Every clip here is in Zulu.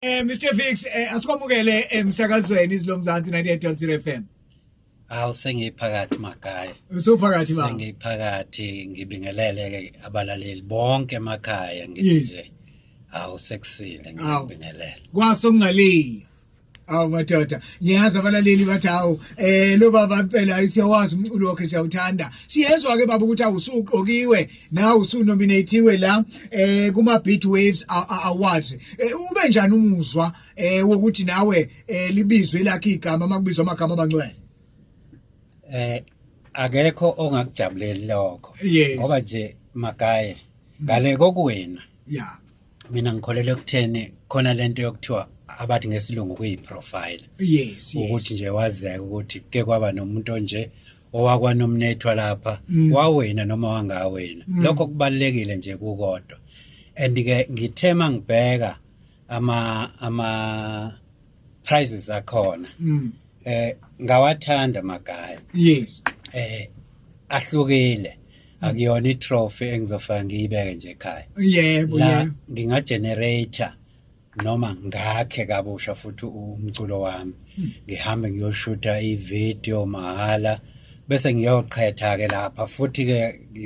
Eh Mr Vix eh, asikwamukele emsakazweni eh, izilomzansi 98.0 FM. Awu sengiphakathi makhaya. Usuphakathi baba. Sengiphakathi ngibingelele ke abalaleli bonke emakhaya ngithi nje. Awu sekusile ngibingelele. Kwaso kungaliya. awu madoda ngiyazi abalaleli bathi hawu eh lo baba impela siyawazi umculo wakhe siyawuthanda siyezwa ke baba ukuthi awusuqokiwe nawe usunominatiwe la eh kuma Beat Waves Awards eh, ube njani umuzwa eh wokuthi nawe eh, libizwe lakhe igama makubizwa amagama abangcwele eh akekho ongakujabuleli lokho ngoba nje magaye ngale kokuwena yeah mina ngikholelwa ekutheni khona lento yokuthiwa abathi ngesilungu kuyiprofile yes ukuthi nje wazeka ukuthi ke kwaba nomuntu onje owakwanomnethwa lapha mm. wawena noma wangawena mm. lokho kubalekile nje kukodwa and ke ngithema ngibheka ama ama prizes akhona mm. eh ngawathanda magaya yes eh ahlukile akuyona itrophy engizofaka ngiyibeke nje ekhaya yebo yebo nginga generator noma ngakhe kabusha futhi umculo wami hmm. ngihambe ngiyoshutha ivideo mahhala bese ngiyoqhetha ke lapha futhi ke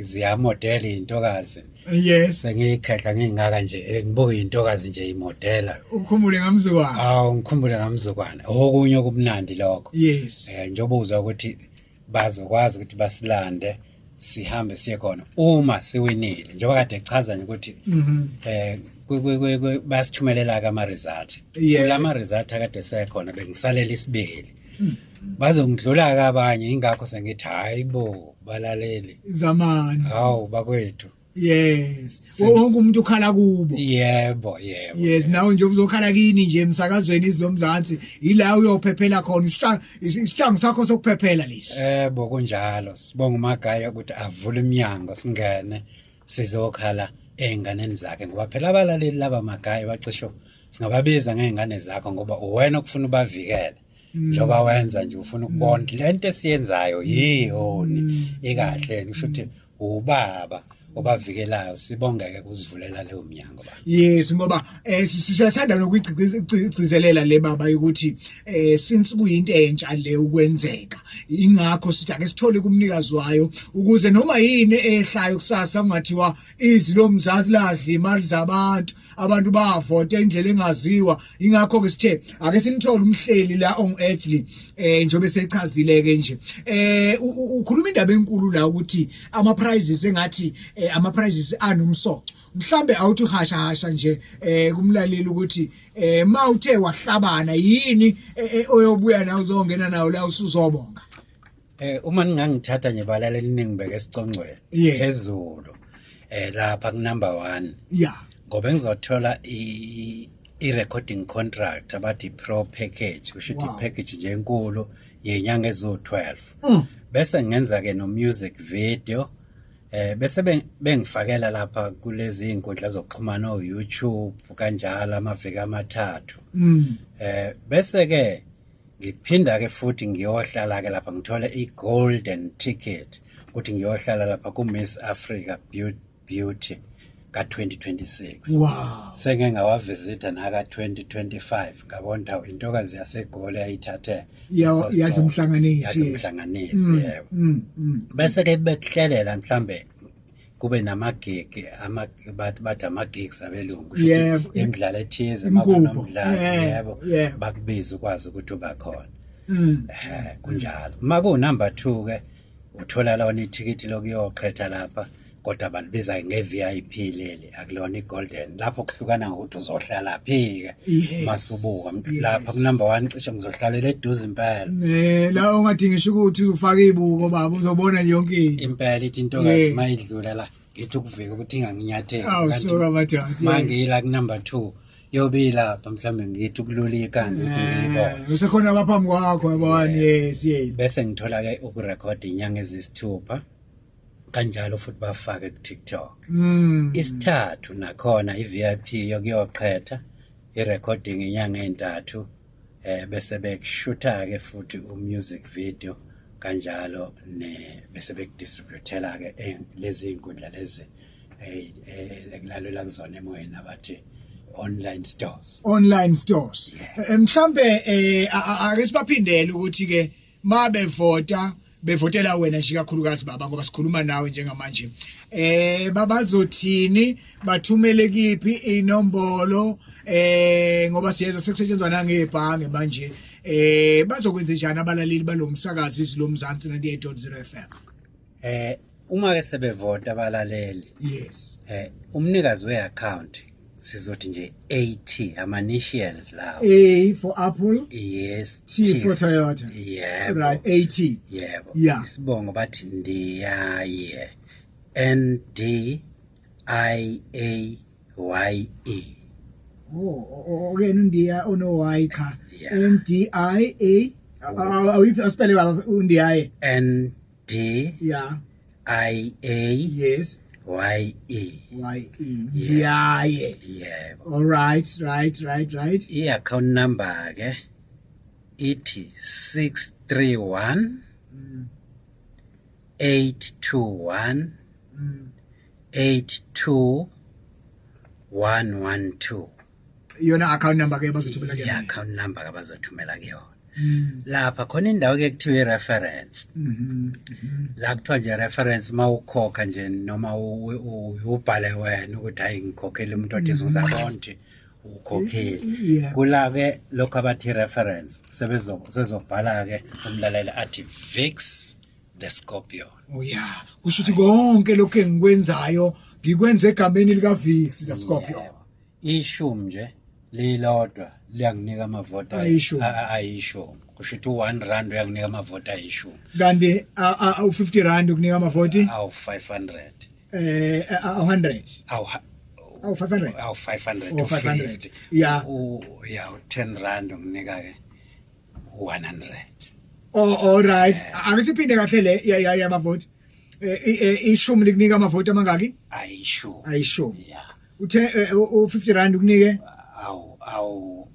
ziyamodela intokazi yes sengiyikhehla ngingaka nje eh, ngibuke intokazi nje imodela ukhumbule ngamzukwana awu ngikhumbule ngamzukwana okunye okumnandi lokho yes eh njengoba uzwa ukuthi bazokwazi ukuthi basilande sihambe siye khona uma siwinile njengoba kade echaza nje ukuthi mhm. eh basithumelela ke ama result la ma result akade sekhona bengisalela isibili bazongidlula ke abanye ingakho sengithi hayi bo balaleli zamani hawu bakwethu yes wonke umuntu ukhala kubo yebo yebo yes nawe nje uzokhala kini nje emsakazweni izilomzansi ila uyophephela khona isihlangu sakho sokuphephela lesi yebo kunjalo sibonga umagaya ukuthi avule iminyango singene sizokhala ezinganeni zakhe ngoba phela abalaleli laba magaya bacisho singababiza ngezingane zakho ngoba uwena okufuna ubavikele mm. njengoba wenza nje ufuna ukubona mm. lento esiyenzayo yihoni mm. ikahle kusho ukuthi ubaba obavikelayo sibongeke kuzivulela leyo mnyango yes ngoba eh siyathanda nokuyigcizelela le baba ukuthi eh since kuyinto entsha le ukwenzeka ingakho sithi ake sithole kumnikazi wayo ukuze noma yini ehlayo kusasa kungathiwa izi lomzansi ladla imali zabantu abantu bavota indlela engaziwa ingakho ke sithe ake simthole umhleli la on edge eh njobe sechazile ke nje eh ukhuluma indaba enkulu la ukuthi ama prizes engathi eh, ama prizes anomsoco mhlambe awuthi uhasha hasha nje eh kumlaleli ukuthi eh mawuthe wahlabana yini eh, eh, oyobuya nawo uzongena nawo la usuzobonga eh uma ningangithatha nje balale liningi beke sicongcwele Yes. phezulu eh lapha ku number 1 yeah ngoba ngizothola i i recording contract abathi pro package kusho ukuthi Wow. package nje enkulu yenyanga ezo12 Mm. bese ngenza ke no music video Eh bese bengifakela lapha kulezi inkundla zokuxhumana o YouTube kanjalo amaviki amathathu. Mm. Eh bese ke ngiphinda ke futhi ngiyohlala ke lapha ngithole i golden ticket ukuthi ngiyohlala lapha ku Miss Africa Beauty ka-2026 wow. senge ngawavisitha naka-2025 ngabona hawu intokazi yasegoli yayithathe yadla umhlanganisi umhlanganisi mm, yebo mm, mm. bese-ke bekuhlelela mhlawumbe kube namagigi bathi ama-gigs abelungu imidlalo ethize makunomdlalo yebo bakubize ukwazi ukuthi uba khona um kunjalo uma kuwunumber two-ke uthola lona ithikithi lokuyoqhetha lapha kodwa balibiza nge-vip leli akulona i-golden lapho kuhlukana ngokuthi uzohlala phi-ke masubuka lapha kunumber one cishe ngizohlalela eduze impela um la ungadingisho ukuthi ufake iy'buko baba uzobona yonke into impela ithi into kazi uma idlula la ngithi ukuvika ukuthi inganginyatheli mangiyila kunumber two yobila pha mhlawumbe ngithi ukululika ngithi ngiyibona Eh, usekhona abaphambi kwakho yabona yes yes bese ngithola ke ukurekhodi inyanga ezisithupha kanjalo futhi bafake ku-tiktok Mm. isithathu nakhona i-vip yokuyoqhetha i-recording inyanga ezintathu eh bese bekushutha ke futhi umusic video kanjalo ne bese bekudistributela ke eh, lezi inkundla lezi eh, eh, ekulalelwa kuzona emoyeni abathi online stores online stores mhlambe eh ake sibaphindele ukuthi ke mabevota bevotela wena nje kakhulukazi baba ngoba sikhuluma nawe njengamanje eh babazothini bathumele kiphi inombolo eh ngoba siyezwa sekusetshenzwa nangebhange manje eh bazokwenza njani abalaleli balomsakazi izilomzansi 98.0 FM Eh uma ke sebevota abalaleli. Yes. Eh umnikazi we account sizothi nje AT ama initials lawo. A for Apple. Yes. T, T for Toyota. Yeah. Right, AT. Yebo. Yeah. Isibongo bathi ndiyaye. N D I A y a oh okay undiya ono y cha n d i a awuyiphi asipele baba undiyaye n d yeah i a yes y e y e ndiyaye yebo all right right right right i account number ke ithi 631 821 mm. 82112 iyona account number ke bazothumela kuyona account number ke bazothumela kuyona mm. lapha khona indawo ke kuthiwa i-reference mm -hmm. la kuthiwa nje reference uma ukhokha nje noma ubhale wena ukuthi hayi ngikhokhele umuntu othi izuza mm. bonke ukhokhile kula-ke lokhu abathi reference sebezobhala-ke umlaleli athi vix the scorpion uya kusho ukuthi konke lokho engikwenzayo ngikwenza egameni lika Vix the scorpion ishumi nje lilodwa liyanginika amavoti ayishumi ayishumi kusho ukuthi u-one rand uyanginika amavoti ayishumi kanti u-fifty rand ukunika amavoti awu-five hundred eh awu-hundred awu-five hundred awu-five hundred u-five hundred ya ya u-ten rand unginika-ke 100 oh all right angisiphinde kahle le ya ya ya bavoti Eh, i- eh, ishumi likunika amavoti amangaki ayisho ayishumi yeah uthe eh, u- u-50 rand ukunike awu awu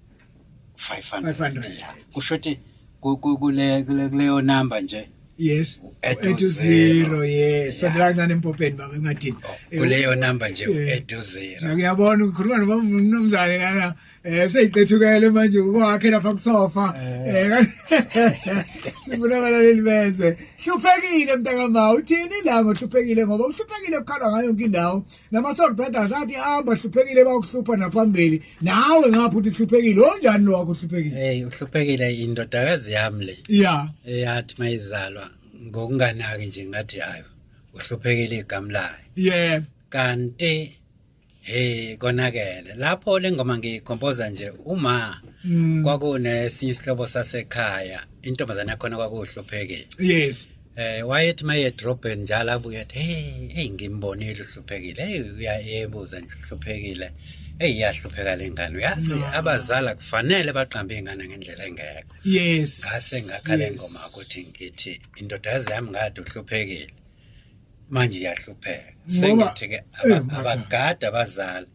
500 500, yeah yes. kusho ukuthi ku- ku- kule kule- kuleyo number nje yes Add to ethi zero. zero yes Yeah. sondela kancane empopeni baba engadini kuleyo number nje Eh. edu zero uyabona ukhuluma nomnumzane lana Eh seyiqethukele manje ukwakhe lapha kusofa. Eh, eh sifuna abalaleli bezwe. Hluphekile mntakama uthini la ngohluphekile ngoba uhluphekile ukhala ngayo yonke indawo. Nama Soul Brothers athi hamba hluphekile bakuhlupha naphambili. Nawe ngapha uthi hluphekile onjani lo wakho hluphekile? Hey uhluphekile indodakazi yami le. Yeah. Eyathi mayizalwa ngokunganaki nje ngathi hayo uhluphekile igama layo. Yeah. Kanti Hey konakele lapho lengoma ngiyikhompoza nje uma mm. kwakunesinye isihlobo sasekhaya intombazane yakhona kwakuhluphekile yes eh wayethi maye drophen njalo abuye athi hey hey ngimbonile uhluphekile hey uyayebuza nje uhluphekile hey iyahlupheka lengane uyazi no. abazala kufanele baqambe ingane ngendlela engekho yes ngase ngakhala yes. ingoma ukuthi ngithi indodazi yami ngade uhluphekile manje iyahlupheka sengithi ke eh, abagada abazali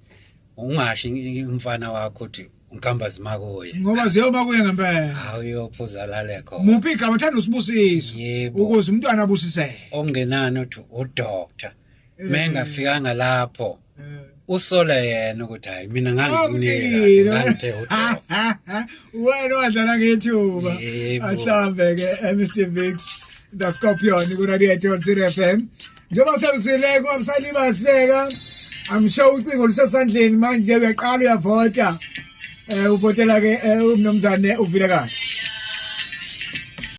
ungashi umfana wakho uthi ngihamba zimakuye ngoba ziyoba kuye ngempela hawu uyophuza lale khona muphi igama uthanda usibusiso ukuze umntwana abusiseke ongenani uthi udoctor eh. mengafikanga lapho usole yena ukuthi hayi mina ngangikunike ngangithe wena wadlala ngethuba asambe ke Mr Vix the Scorpion ku 98.0 FM njengoba sewusile kwabusali bahleka I'm sure ucingo lusesandleni manje uyaqala uyavota eh uvotela ke eh, umnomzane uvile kahle